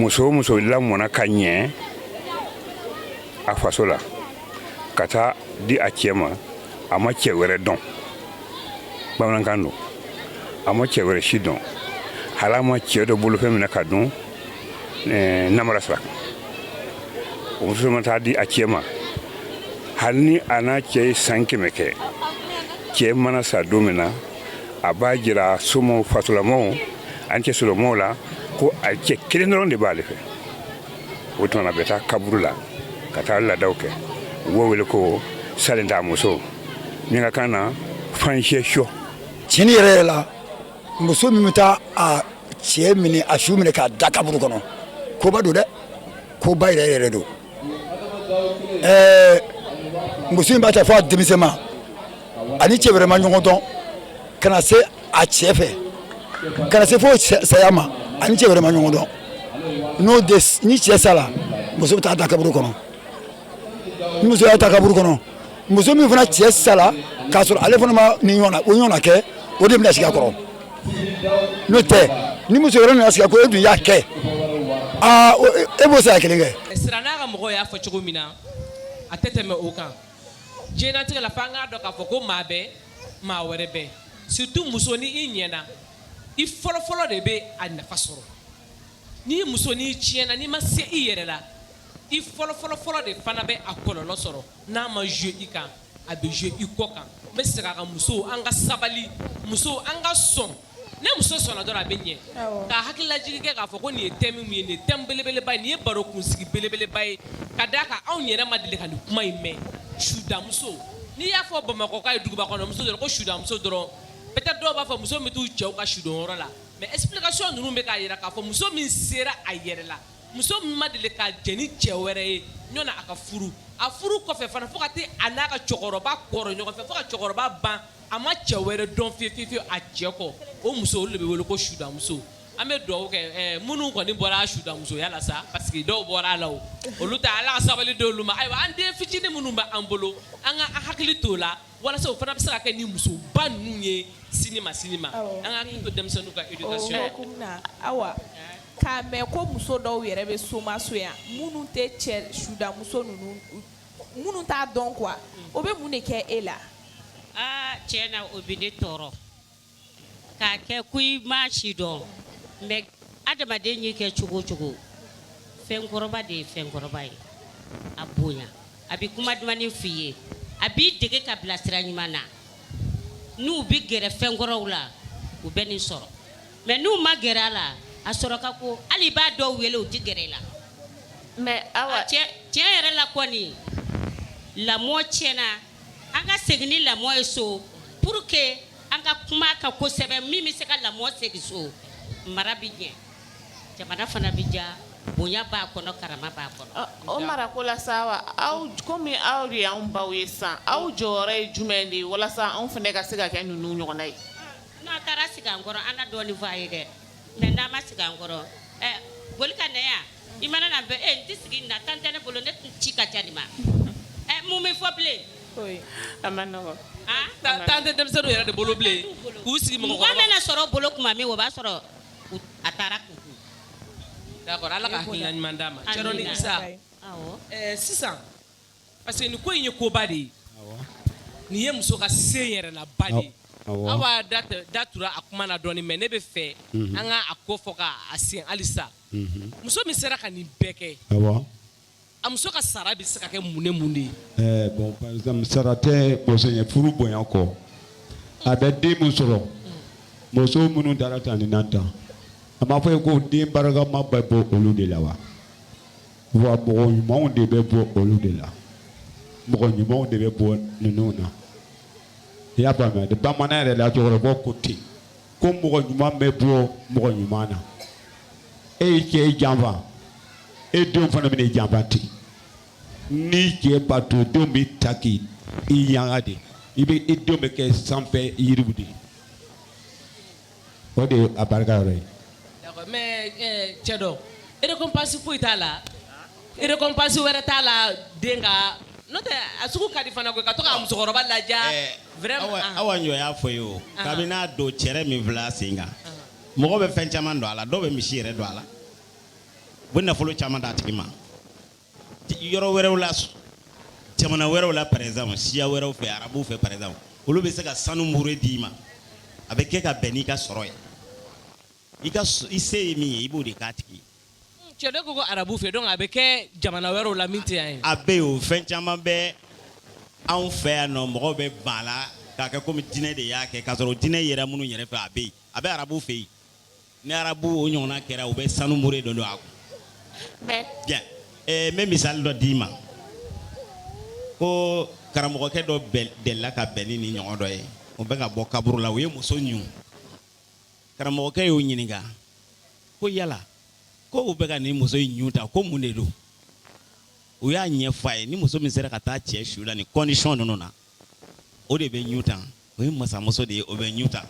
[SPEAKER 1] muso o muso lamɔna ka ɲɛ a faso la ka taa di a cɛ ma a ma cɛ wɛrɛ dɔn bamanankan don a ma cɛ wɛrɛ si dɔn hali a ma cɛ dɔ bolofɛn minɛ ka dun eh, namara sira kan o muso ma taa di a cɛ ma hali ni a n'a cɛ ye san kɛmɛ kɛ cɛ mana sa don min na a b'a jira somɔgɔw fasolamɔgɔw ani cɛ solamɔgɔw la ko a cɛ kelen dɔrɔn de b'ale fɛ o tuma na a bɛ taa kaburu la ka taa laadaw kɛ u b'o wele ko salen t'a muso min ka kan na fanhyɛ sɔ tiɲɛni yɛrɛ yɛrɛ la muso min bɛ taa a cɛ minɛ a su minɛ k'a da kaburu kɔnɔ koba don dɛ koba yɛrɛ yɛrɛ don ɛɛ muso in b'a ta fo a denmisɛnma a ni cɛ wɛrɛ ma ɲɔgɔn dɔn ka na se a cɛ fɛ ka na se fo saya ma a ni cɛ wɛrɛ ma ɲɔgɔn dɔn n'o de ni cɛ sara muso bɛ t'a da kaburu kɔnɔ ni muso y'a da kaburu kɔnɔ muso min fana cɛ sala k'a sɔrɔ ale fana ma nin ɲɔgɔn o ɲɔgɔn kɛ o de bɛna sigi a kɔrɔ n'o tɛ ni muso wɛrɛ nana sigi ko e dun y'a kɛ aa e b'o saya kelen kɛ sira n'a ka mɔgɔ y'a fɔ cogo min na a tɛ tɛmɛ o kan diɲɛnatigɛ la f'an k'a dɔn k'a fɔ ko maa bɛɛ maa wɛrɛ bɛɛ surtout muso ni i ɲɛna i fɔlɔfɔlɔ de bɛ a nafa sɔrɔ ni muso n'i tiɲɛna n'i ma se i yɛrɛ la i fɔlɔfɔlɔfɔlɔ de fana bɛ a kɔlɔlɔ sɔrɔ n'a ma jouer i kan a bɛ jouer i kɔ kan n bɛ segin a kan musow an ka sabali musow an ka sɔn ni muso sɔnna dɔrɔn a bɛ ɲɛ ka hakililajigin kɛ k'a fɔ ko nin ye thème min ye nin ye thème belebeleba ye nin ye baro kunsigi belebeleba ye ka d'a kan anw yɛrɛ ma deli ka nin kuma in mɛn sudamuso n'i y'a fɔ Bamakɔ ka ye duguba kɔnɔ muso dɔrɔn ko sudamuso dɔrɔn peut-être dɔw b'a fɔ muso min bɛ t'u cɛw ka sudonyɔrɔ la mais explication ninnu bɛ k'a jira k'a fɔ muso min sera a yɛrɛ la Muso min ma deli ka jɛn ni cɛ wɛrɛ ye yanni a ka furu, a furu kɔfɛ fana fo ka taa a n'a ka cɛkɔrɔba kɔrɔ ɲɔgɔn fɛ, fo ka cɛkɔrɔba ban a ma cɛ wɛrɛ dɔn fiye fiye fiyew a cɛ kɔ, o muso olu de bɛ wele ko sudamuso, an bɛ dugawu kɛ ɛ minnu kɔni bɔra sudamusoya la sa parce que dɔw bɔra a la o, olu ta Ala ka sabali d'olu ma, ayiwa an den fitinin minnu bɛ an bolo an k'an hakili t'u la walasa u fana bɛ se ka kɛ nin musoba ninnu ye sini ma sini ma, awɔ, an k'an hakili to denmisɛnninw ka éducation na, o hukumu na, Awa k'a mɛn ko muso dɔw yɛrɛ bɛ Somaso yan minnu tɛ cɛ sudamuso ninnu minnu t'a dɔn quoi o bɛ mun de kɛ e la. Aa tiɲɛ na o bɛ ne tɔɔrɔ k'a kɛ ko i m'a si dɔn mais adamaden ye kɛ cogo o cogo fɛnkɔrɔba de ye fɛnkɔrɔba ye a bonya a bɛ kuma dumannin f'i ye a b'i dege k'i bila sira ɲuman na n'u bɛ gɛrɛ fɛnkɔrɔw la u bɛ nin sɔrɔ. Mɛ n'u ma gɛrɛ a la a sɔrɔ ka ko hali i b'a dɔw wele u tɛ gɛrɛ i la mɛ awa cɛ yɛrɛ la kɔni lamɔ tiɲɛna an ka segin ni lamɔ ye so pour que an ka kuma ka kɛ ko sɛbɛ min bɛ se ka lamɔ segin so mara bɛ ɲɛ jamana fana bɛ ja bonya b'a kɔnɔ karama b'a kɔnɔ o mara ko la sa aw kɔmi aw de anw baw ye sa aw jɔyɔrɔ ye jumɛn de ye walasa anw fana ka se ka kɛ ninnu ɲɔgɔn ye N'a taara sigi an kɔrɔ an dɔɔnin fɔ a ye dɛ mɛ n'a ma sigi an kɔrɔ boli ka na yan i mana na bɛ e tɛ sigi na tan tɛ ne bolo ne tun ci ka ca nin ma ɛ mun bɛ fɔ bilen tan tɛ denmisɛnw yɛrɛ de bolo bilen k'u sigi mɔgɔ bɛna sɔrɔ bolo tuma min o b'a sɔrɔ a taara kun d'accord ala ka ɲuman d'a ma sisan Parce que nin ko in ye koba de ye nin ye muso ka se yɛrɛ la ba de ye Awa da tura a kuma na dɔɔnin mɛ ne bɛ fɛ an ka a ko fɔ k' a sen halisa muso min sera ka nin bɛɛ kɛ a muso ka sara bɛ se ka kɛ mun ni mun de ye bɔn sara tɛ muso ye furu bonya kɔ a bɛ den min sɔrɔ muso minnu taara tan ni na tan an b'a fɔ i ye ko den barikama ba bɔ olu de la wa wa mɔgɔ ɲumanw de bɛ bɔ olu de la mɔgɔ ɲumanw de bɛ bɔ ninnu na i y'a faamuya dɛ bamanan yɛrɛ la cɛkɔrɔba ko ten ko mɔgɔ ɲuman bɛ bɔ mɔgɔ ɲuman na e y'i cɛ janfa e denw fana bɛna i janfa ten n'i y'i cɛ bato denw bɛ taa k'i yanga de i bɛ i denw bɛ kɛ sanfɛ yiriw de ye o de ye a barika yɔrɔ ye. D'accord mais ɛɛ cɛ dɔ récompense foyi t'a la récompense wɛrɛ t'a la dɛ nka n'o tɛ a sugu ka di fana koyi ka to ka musokɔrɔba ladiya vraiment Awa anhan. Awa Njo y'a fɔ i ye o Anhan. kabini n'a don cɛrɛ min filɛ a sen kan mɔgɔ bɛ fɛn caman don a la dɔw bɛ misi yɛrɛ don a la u bɛ nafolo caman d'a tigi ma. yɔrɔ wɛrɛw la jamana wɛrɛw la par exemple siya wɛrɛw fɛ arabuw fɛ par exemple olu bɛ se ka sanu mure d'i ma a bɛ kɛ ka bɛn n'i ka sɔrɔ ye i ka i se ye min ye i b'o de k'a tigi cɛ dɔ ko ko arabu fɛ donc a bɛ kɛ jamana wɛrɛw la min tɛ yan ye a bɛ yen o fɛn caman bɛ anw fɛ yan nɔ mɔgɔw bɛ ban a la k'a kɛ komi diinɛ de y'a kɛ k'a sɔrɔ diinɛ yera minnu yɛrɛ fɛ a bɛ yen a bɛ arabu fɛ yen ni arabu o ɲɔgɔnna kɛra u bɛ sanu mure dɔ don a kun bɛn eh, n bɛ misali dɔ d'i ma ko karamɔgɔkɛ dɔ delila ka bɛn ni nin ɲɔgɔn dɔ ye u bɛ ka bɔ kaburu la u ye muso ɲun karamɔgɔkɛ y'o ɲininka ko yala ko u bɛ ka nin muso in ɲun ta ko mun de don u y'a ɲɛfɔ a ye ni muso min sera ka taa cɛ su la nin condition ninnu na o de bɛ ɲu tan o ye masamuso de ye o bɛ ɲu tan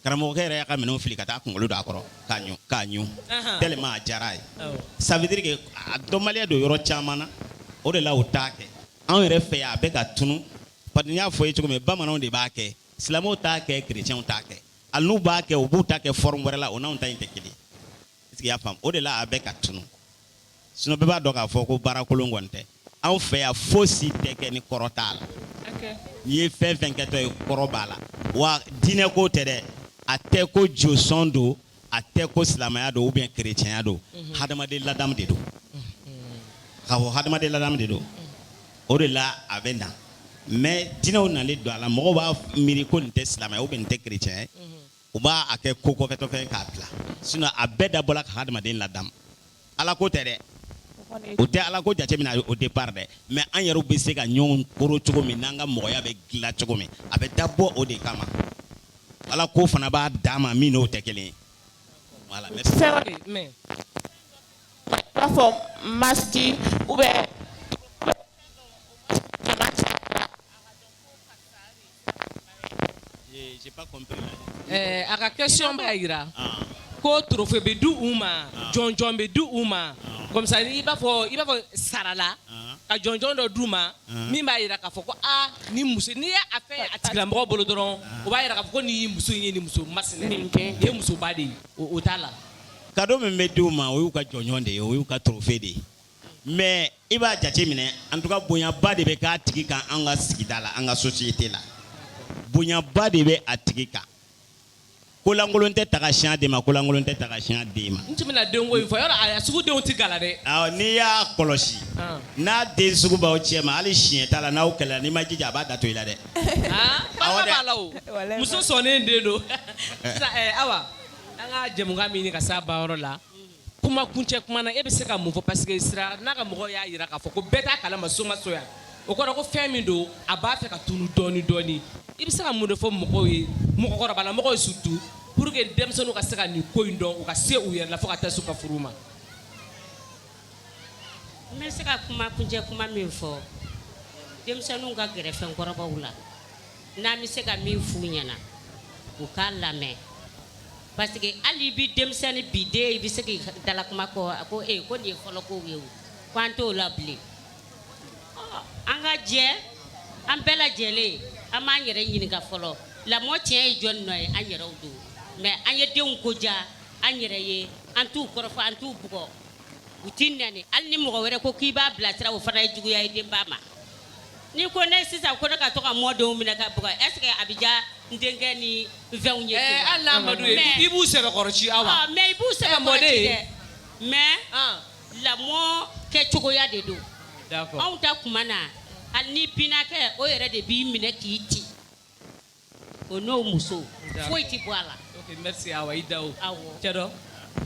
[SPEAKER 1] karamɔgɔkɛ yɛrɛ y'a ka minɛn fili ka taa kunkolo don a kɔrɔ k'a ɲu k'a ɲu tellement a diyara a ye ça veut dire que a dɔnbaliya don yɔrɔ caman na o de la u t'a kɛ anw yɛrɛ fɛ yan a bɛ ka tunu parce que n y'a fɔ i ye cogo min bamananw de b'a kɛ silamɛw t'a kɛ chrétiens t'a kɛ hali n'u b'a kɛ u b'u ta kɛ forme wɛrɛ la o n'anw ta in tɛ kelen est ce que i y'a faamu o de la a bɛ ka tunu sinon bɛɛ b'a dɔn k'a fɔ ko baara kolon kɔni tɛ anw fɛ yan fosi tɛ kɛ ni kɔrɔ t'a la n'i ye fɛn fɛn kɛtɔ ye kɔrɔ b'a la wa diinɛ ko tɛ dɛ a tɛ ko josɔn don a tɛ ko silamɛya don ou bien kerecɛnya don mhm. hadamaden ladamu de don mhm. k'a fɔ hadamaden ladamu de don o de la a bɛ na mais diinɛw nalen don a la mɔgɔw b'a miiri ko nin tɛ silamɛya ou bien nin tɛ kerecɛnya ye mhm. u b'a a kɛ ko kɔfɛtɔfɛn ye k'a bila sinon a bɛɛ dabɔla ka hadamaden ladamu ala ko tɛ dɛ o tɛ ala ko jateminɛ a ye au départ dɛ mais an yɛrɛw bɛ se ka ɲɔgɔn koro cogo min n'an ka mɔgɔya bɛ dilan cogo min a bɛ dabɔ o de kama ala ko fana b'a dan ma min n'o tɛ kelen ye voilà merci C'est vrai, mais i b'a fɔ masiti ou bien J'ai pas compris. Eh, a ka question b'a jira ah. ko trophée bɛ di u ma ah. jɔnjɔn bɛ di u ma ah. comme ça i b'a fɔ i b'a fɔ sarala ka jɔnjɔn dɔ d'u ma min b'a jira k'a fɔ ko aa ni muso n'i ye a fɛn a tigilamɔgɔ bolo dɔrɔn o b'a jira k'a fɔ ko nin ye muso in ye nin muso masina nin ye musoba de ye o t'a la. cadeau min bɛ di u ma o y'u ka jɔnjɔn de ye o y'u ka trophée de ye. mais i b'a jate minɛ en tout cas bonyaba de bɛ k'a tigi kan an ka sigida la an ka société la bonyaba de bɛ a tigi kan kolankolon tɛ taga siɲɛ den ma kolankolon tɛ taga siɲɛ den ma. n tun bɛna denko in fɔ yɔrɔ a sugu denw tɛ gala dɛ. awɔ n'i y'a kɔlɔsi. Ah. n'a den sugu b'aw cɛma hali siɲɛta la n'aw kɛlɛla n'i m'i jija a b'a da to i la dɛ. Ah, awɔ dɛ b'a la o muso sɔnnen den don. Eh. sisan eh, awa an ka jɛmukan bɛ ɲini ka s'a ban yɔrɔ la. Kuma kuncɛ kuma na e bɛ se ka mun fɔ parce que Sira n'a ka mɔgɔw y'a jira k'a fɔ ko bɛɛ t'a kalama Somaso yan, o kɔrɔ ko fɛn min don a b'a fɛ ka tunun dɔɔnin dɔɔnin, i bɛ se ka mun de fɔ mɔgɔw ye mɔgɔkɔrɔbalamɔgɔw surtout pour que denmisɛnninw ka se ka nin ko in dɔn u ka se u yɛrɛ la fo ka taa se u ka furu ma? N bɛ se ka kuma kuncɛ kuma min fɔ denmisɛnninw ka gɛrɛ fɛnkɔrɔbaw la, n'an bɛ se ka min f'u ɲɛna u k'a lamɛn Parce que hali bi denmisɛnnin bi den i bɛ se k'i dalakuma kɔ a ko ee ko nin ye fɔlɔ kow ye o ko an t'o la bilen ɔ an ka jɛ an bɛɛ lajɛlen an b'an yɛrɛ ɲininka fɔlɔ lamɔ tiɲɛ ye jɔni nɔ ye an yɛrɛw don mais an ye denw ko diya an yɛrɛ ye an t'u kɔrɔfɔ an t'u bugɔ u tɛ nɛni hali ni mɔgɔ wɛrɛ ko k'i b'a bilasira o fana ye juguya ye denba ma N'i ko ne sisan ko ne ka to ka mɔdenw minɛ ka bugɔ est ce que a bɛ diya n denkɛ ni fɛnw ye amadu i b'u sɛbɛkɔrɔ ci aw ma mɛ i b'u sɛbɛn mɔden dɛ mais lamɔ kɛ cogoya de don anw ta tuma na hali ni binaakɛ o yɛrɛ de b'i minɛ k'i ci o n'o muso foyi tɛ bɔ a la. ok merci Awa i Daho. Awɔ. Cɛ dɔ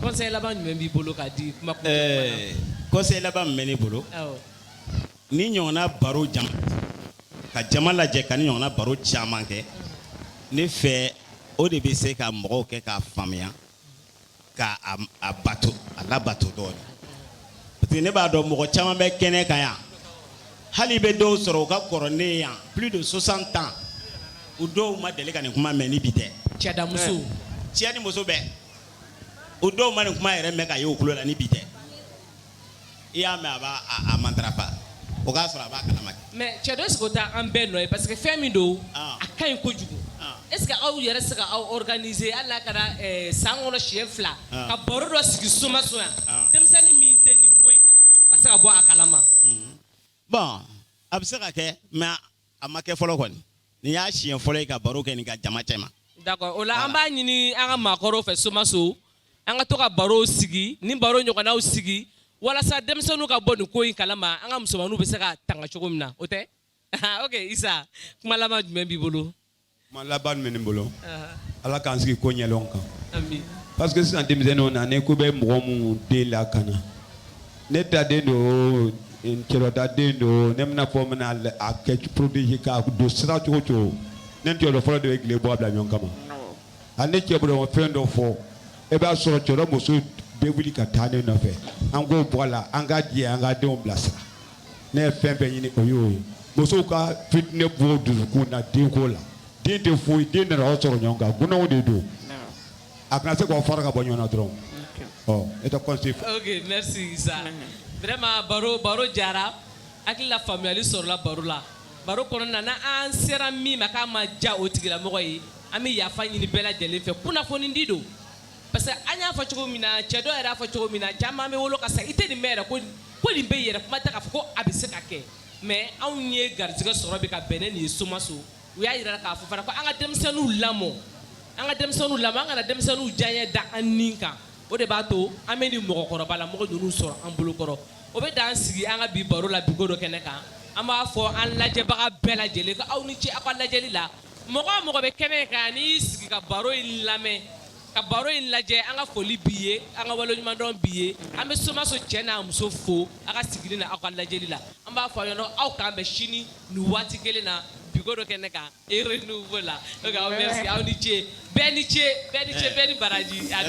[SPEAKER 1] conseil laban jumɛn b'i bolo k'a di kuma kuncɛ tuma na? Ɛɛ conseil laban min bɛ ne bolo. Awɔ. Nin ɲɔgɔnna baro jama ka jama lajɛ ka nin ɲɔgɔnna baro caman kɛ ne fɛ o de bɛ se ka mɔgɔw kɛ k'a faamuya. ka a bato a labato dɔɔnin parce que ne b'a dɔn mɔgɔ caman bɛ kɛnɛ kan yan hali i bɛ dɔw sɔrɔ u ka kɔrɔ ne yan plus de 60 ans u dɔw ma deli ka nin kuma mɛn ni bi tɛ cɛda muso cɛ ni muso bɛɛ u dɔw ma nin kuma yɛrɛ mɛn ka ye u tulo la ni bi tɛ i y'a mɛn a b'a a matarafa o k'a sɔrɔ a b'a kalama kɛ. mais cɛ dɔ est ce que o tɛ an bɛɛ nɔ ye parce que fɛn min don. Ah. a ka ɲi kojugu. Ah. est ce que aw yɛrɛ se ka aw organiser hali n'a kɛra eh, san kɔnɔ siɲɛ fila. Ah. ka baro dɔ sigi somaso yan. denmisɛnnin min tɛ nin ko in kalama a ka se ka bɔ a kalama. Mhm. bon a bɛ se ka kɛ mais A ma kɛ fɔlɔ kɔni nin y'a siɲɛ fɔlɔ ye ka baro kɛ nin kan jama cɛma d'accord o la an b'a ɲini an ka maakɔrɔw fɛ somaso an ka to ka barow sigi ni baro ɲɔgɔnnaw sigi walasa denmisɛnninw ka bɔ nin ko in kalama an ka musomanw bɛ se ka tanga cogo min na o tɛ ok Isa kuma laban jumɛn b'i bolo Ma laban min bɛ ne bolo ala k'an sigi ko ɲɛdɔn kan parce que sisan denmisɛnnin na ne ko bɛ mɔgɔ minnu den la ka na ne ta den don cɛ ta den don ne bɛna fɔ min a kɛ porobisi ka don sira cogo cogo ne jɔ fɔlɔ de ye tile bɔ bila ɲɔgɔn kama ani ne cɛ bolo fɛn dɔ fɔ e b'a sɔrɔ cɛkɔrɔba muso bɛɛ wuli ka taa ne nɔfɛ an k'o bɔ a la an ka jɛ an ka denw bilasira ne ye fɛn fɛn ɲini o y'o ye musow ka fitinɛ bɔ u dusukun na denko la den tɛ foyi den nana aw sɔrɔ ɲɔgɔn kan dunanw de don a kana se k'aw fara ka bɔ ɲɔgɔn na dɔrɔn ɔ e tɛ conseil ok merci Isa vraiment baro baro diyara hakilila faamuyali sɔrɔla baro la baro kɔnɔna na n'an sera min ma k'a ma diya o tigilamɔgɔ ye an bɛ yafa ɲini bɛɛ lajɛlen fɛ kunnafonidi don parce que an y'a fɔ cogo min na cɛ dɔ yɛrɛ y'a fɔ cogo min na caman bɛ wolo ka sa i tɛ nin mɛn yɛrɛ ko ko nin bɛ yɛrɛ kuma tɛ k'a fɔ ko a bɛ se ka kɛ mais anw ye garijɛgɛ sɔrɔ bi ka bɛn ni nin ye somaso u y'a yira k'a fɔ fana ko an ka denmisɛnninw lamɔ an ka denmisɛnninw lamɔ an kana denmisɛnninw diyanye da an ni kan o de b'a to an bɛ nin mɔgɔkɔrɔba la mɔgɔ ninnu sɔrɔ an bolo kɔrɔ o bɛ dan sigi an ka bi baro la bigo dɔ kɛnɛ kan an b'a fɔ an lajɛbaga bɛɛ lajɛlen ko aw ni ce aw ka lajɛli la mɔgɔ o mɔgɔ bɛ kɛnɛ kan n'i y'i sigi ka baro in lamɛn ka baro in lajɛ an ka foli b'i ye an ka waleɲumandɔn b'i ye an bɛ somaso cɛ n'a muso fo aw ka sigili n'aw ka lajɛli la an b'a fɔ yɔrɔ aw k'an bɛn sini nin waati kelen na bigo dɔ kɛnɛ kan e renouveau la a merci aw ni ce bɛɛ ni ce bɛɛ ni baraji a